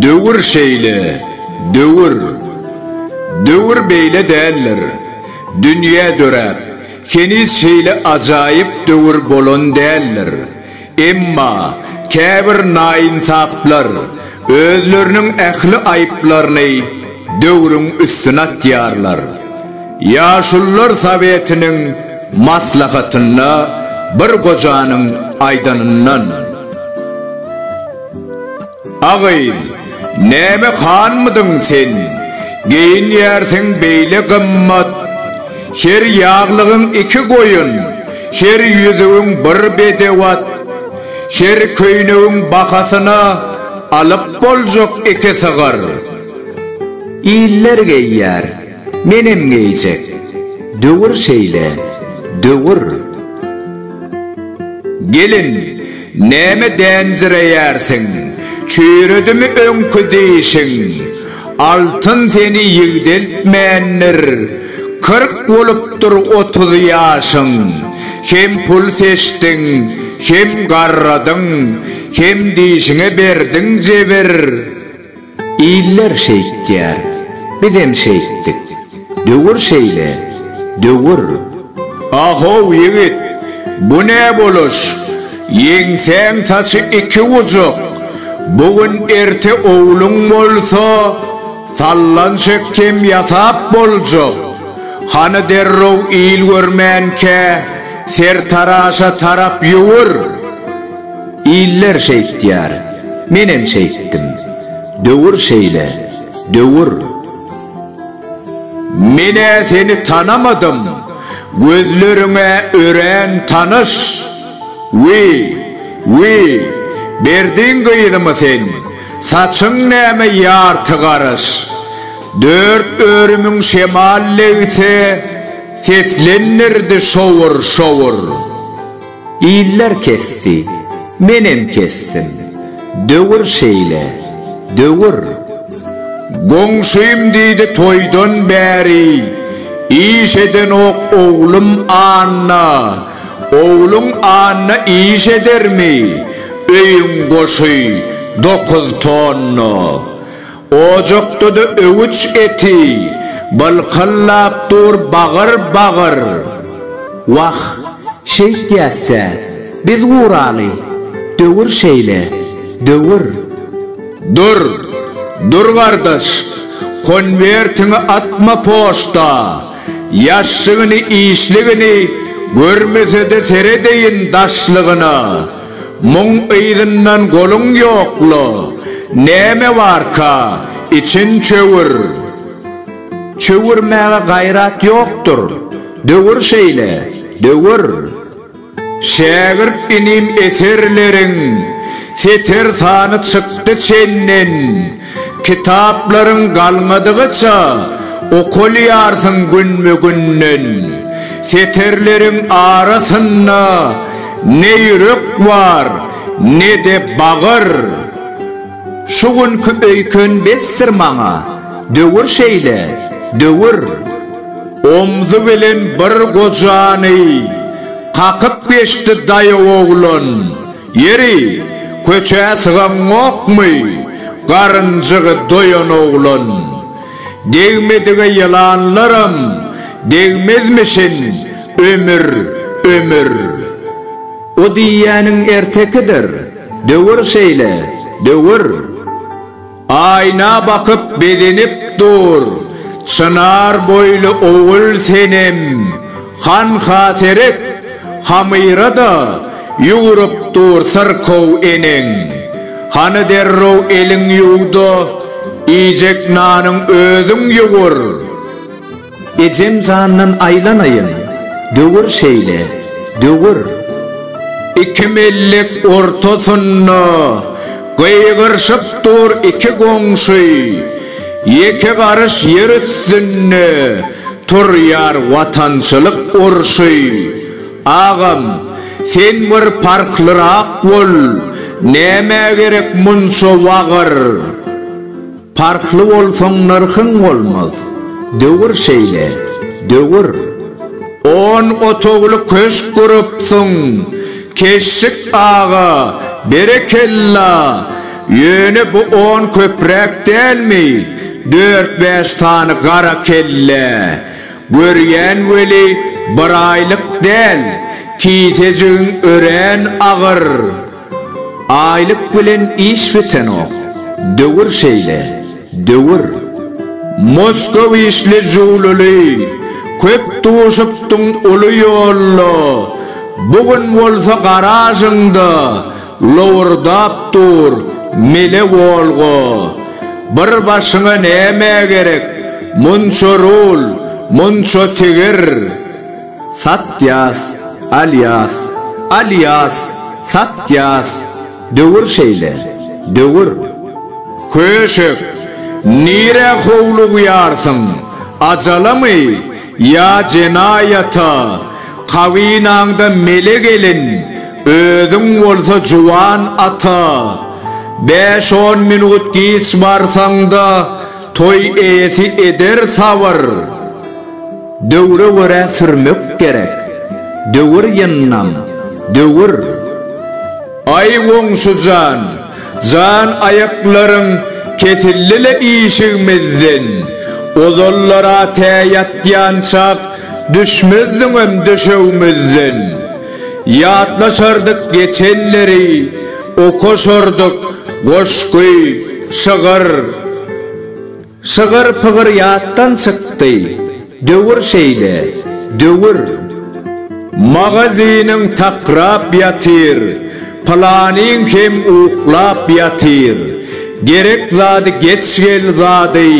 Döwür şeýle, döwür. Döwür beýle däldir. Dünýä döräp, heniz şeýle ajaýyp döwür bolan däldir. Emma käbir naýynsaplar özleriniň ähli aýyplaryny döwrüň üstüne atýarlar. Ýaşulular sowetiniň maslahatynda bir gojanyň aýdanyndan. A gyz, näme hanmydyň sen? Geýinýärsiň beýle gymmat. Her ýaglygyň iki goýun, her ýüzügiň bir bedew at. Her köýnegiň bahasyna alyp boljak iki sygyr. Iller geýýär. Menem geýjek. Döwür şeýle, döwür. Gelin, näme dänjireýärsiň? Çüýredimi öňki dişiň? Altyn seni ýigdeltmändir. Kyrk bolupdyr otuz ýaşyň. Hem pul seçdiň, hem garradyň, hem dişiňe berdiň jebir. Iller şeýtýär, bizem şeýtdik. Döwür şeýle, döwür. A-how, ýigit, bu ne boluş? Ýeňsäň saçy iki gujak. Bu gün erte owluň bolsa, sallan çekgem ýasap boljak. Hany derrew il görmänkä, sertaraşa tarap ýüwür. Iller şeýtýär, menem şeýtdim. Döwür şeýle, döwür. Men-ä seni tanamadym, gözleriň-ä örän tanyş. Wi, wi, berdiň gyzymy sen, saçyň näme ýarty garyş. Dört örümiň şemal legsi, seslendirdi şowur-şowur. Iller kesdi, menem kesdim. Döwür şeýle, döwür. Goňşym diýdi toýdan bäri, Iş edenok oglum Anna. Ogluň Anna iş edermi? Öýüň goşy dokuz tonna. Ojakda-da öwüç eti bylkyllap dur bagyr-bagyr. Wah, şeýtýäs-dä, biz guraly, döwür şeýle, döwür. Dur, dur gardaş, konwertiňi atma poçta, ýaşşygyny-işligini görmese-de seredeýin daşlygyna. Muň yzyndan goluň ýokla, näme barka, içiň çöwür. Çöwürmäge gaýrat ýokdur, döwür şeýle, döwür. Şägirt inim eserleriň seter sany çykdy çenden. Kitaplaryň galmadygyça okalýarsyň günbe-günden. Setirleriň arasynda ne ýürek bar, ne-de bagyr. Şu günki öýken besdir maňa, döwür şeýle, döwür. Omzy bilen bir gojany kakyp geçdi daýaw oglan. Ýeri, köçä sygaňokmy? Garynjygy doýan oglan. Degmedige ýylanlaram degmezmişin, ömür, ömür. O diýýäniň ertekidir, döwür şeýle, döwür. Aýna bakyp begenip dur. Çynar boýly ogul Senem hanha seret, Hamyra-da ýugrup dur syrkaw eneň. Hany derrew eliň ýuw-da, iýjek nanyň özüň ýugur. Ejem jandan aýlanaýyn, döwür şeýle, döwür. Iki mellik ortasynda gygyryşyp dur iki goňşy, Ýeke garyş ýer üstünde turýar watançylyk urşy. Agam, sen bir parhlyrak bol, nämä gerek munça wagyr? Parhly bolsaň nyrhyň bolmaz. Döwür şeýle, döwür. On otagly köşk gurupsyň, Keşşik aga, berekella! Ýöne bu on köpräk dälmi, dört-bäş sany gara kellä? Görýän weli, biraýlyk däl, kisejigiň örän agyr. Aýlyk bilen iş bitenok. Döwür şeýle. Döwür. Moskow işli jüwlüli, köp duşupdyň uly ýolda, bu gün bolsa garažyňda lowurdap dur mele Wolga. Bir başyňa näme gerek, munça rul, munça tigir. Satýas, alýas, alýas, satýas, döwür şeýle, döwür. Köşek, nirä howlugýarsyň, ajalamy ýa jenaýata, kabynaňda mele gelin, özüň bolsa juwan ata. Bäş-on minut giç barsaň-da, toý eýesi eder sabyr. Döwre görä sürmek gerek. Döwür ýyndam, döwür. Aý goňşujan, jan aýaklaryň kesildi-le işigimizden, ozallar-a tä ýatýançak düşmezdiňem döşegimizden. Ýatlaşardyk geçenleri, okaşardyk goşgy, şygyr. Şygyr-pygyr ýatdan çykdy. Döwür şeýle, döwür. Magazynyň takrap ýatyr, Pylanyň hem uklap ýatyr. Gerek zady geç gel zady,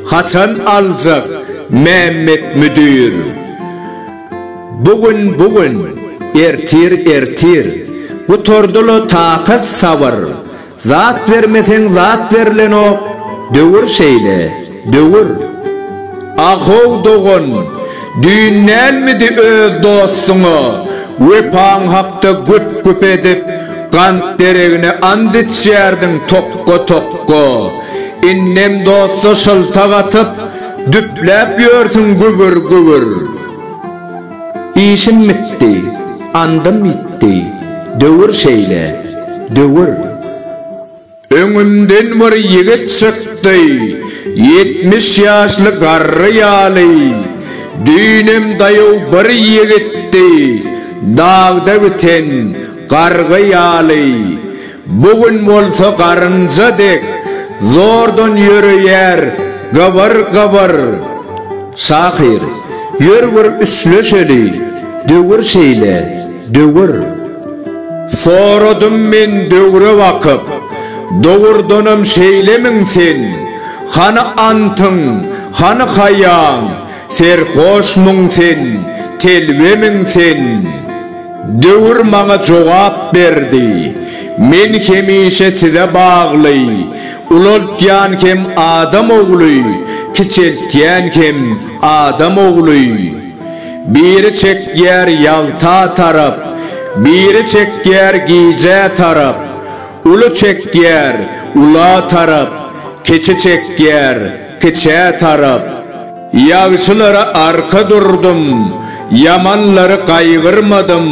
Haçan aljak Mämmet müdir? Bu gün, bu gün, ertir, ertir. Gutardy-la takat-sabyr. Zat bermeseň zat berlenok döwür şeýle döwür. Ahow dogan, düýn dälmidi öz dostuňa wepaň hakda güp-güp edip, gant deregine ant içýärdiň tokga-tokga. Indem dosta şyltak atyp, düpläp ýörsüň gübür-gübür. Işim bitdi, andym ýitdi, döwür şeýle, döwür. Öňümden bir ýigit çykdy, ýetmiş ýaşly garry ýaly, düýnem daýaw bir ýigitdi, dagda biten gargy ýaly. Bu gün bolsa garynja dek zordan ýöreýär gybyr gybyr. Şahyr, ýör bir üçleşeli, döwür şeýle, döwür. Soradym men döwre bakyp, dogurdanam şeýlemiň sen? Hany antyň, hany haýaň, serhoşmyň sen, telbemiň sen? Döwür maňa jogap berdi. Men hemişe size bagly. Ulaltýan hem adam ogly, kiçeltýän hem adam ogly. Biri çekýär ýagta tarap, biri çekýär gijä tarap. Uly çekýär ula tarap, kiçi çekýär kiçä tarap. Ýagşylara arka durdum, ýamanlary gaýgyrmadym.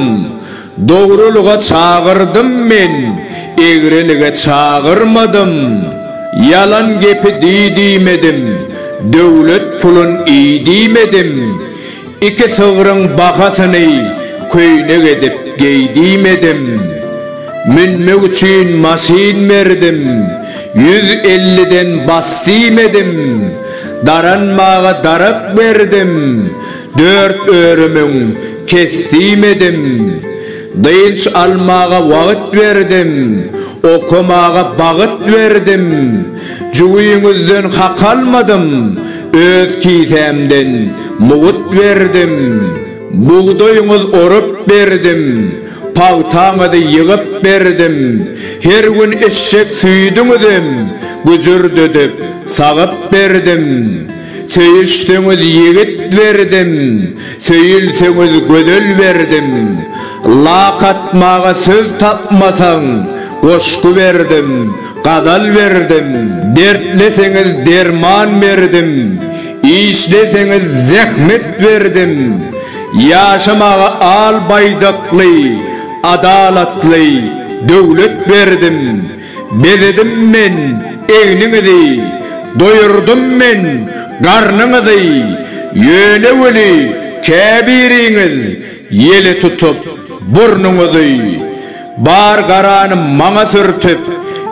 Dogrulyga çagyrdym men, egrilige çagyrmadym. Ýalan gepi di diýmedim, döwlet pulun iý diýmedim. Iki sygryň bahasyny köýnek edip geý diýmedim. Münmek üçin maşyn berdim, ýüz elliden bas diýmedim. Daranmaga darak berdim, dört örümüň kesdim edim. Dynç almaga wagyt berdim, okamaga bagyt berdim. Jübiňizden hak almadym, öz kisämden mugyt berdim. Bugdaýyňyz orup berdim. Pagtaňyzy ýygyp berdim. Her gün içjek süýdüňizem güjürdedip, sagyp berdim. Söýüşseňiz ýigit berdim, söýülseňiz gözel berdim. Lak atmaga söz tapmasaň, goşgy berdim, gazal berdim. Dertleseňiz derman berdim, işleseňiz zähmet berdim. Ýaşamaga al baýdakly, adalatly döwlet berdim, Bezedim men egniňizi, doýurdym men garnyňyzy, Ýöne weli käbiriňiz ýele tutup burnuňyzy, Bar garany maňa sürtüp,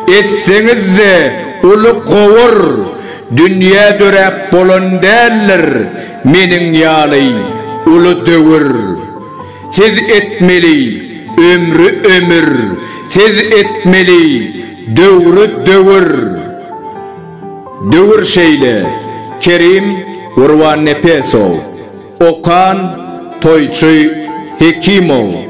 etseňiz-de uly gowur, Dünýä döräp bolan däldir, Meniň ýaly uly döwür Siz etmeli ömri ömür Siz etmeli döwri döwür Döwür şeýle Kerim Gurbannepesow Okan Toýçy Hekimow.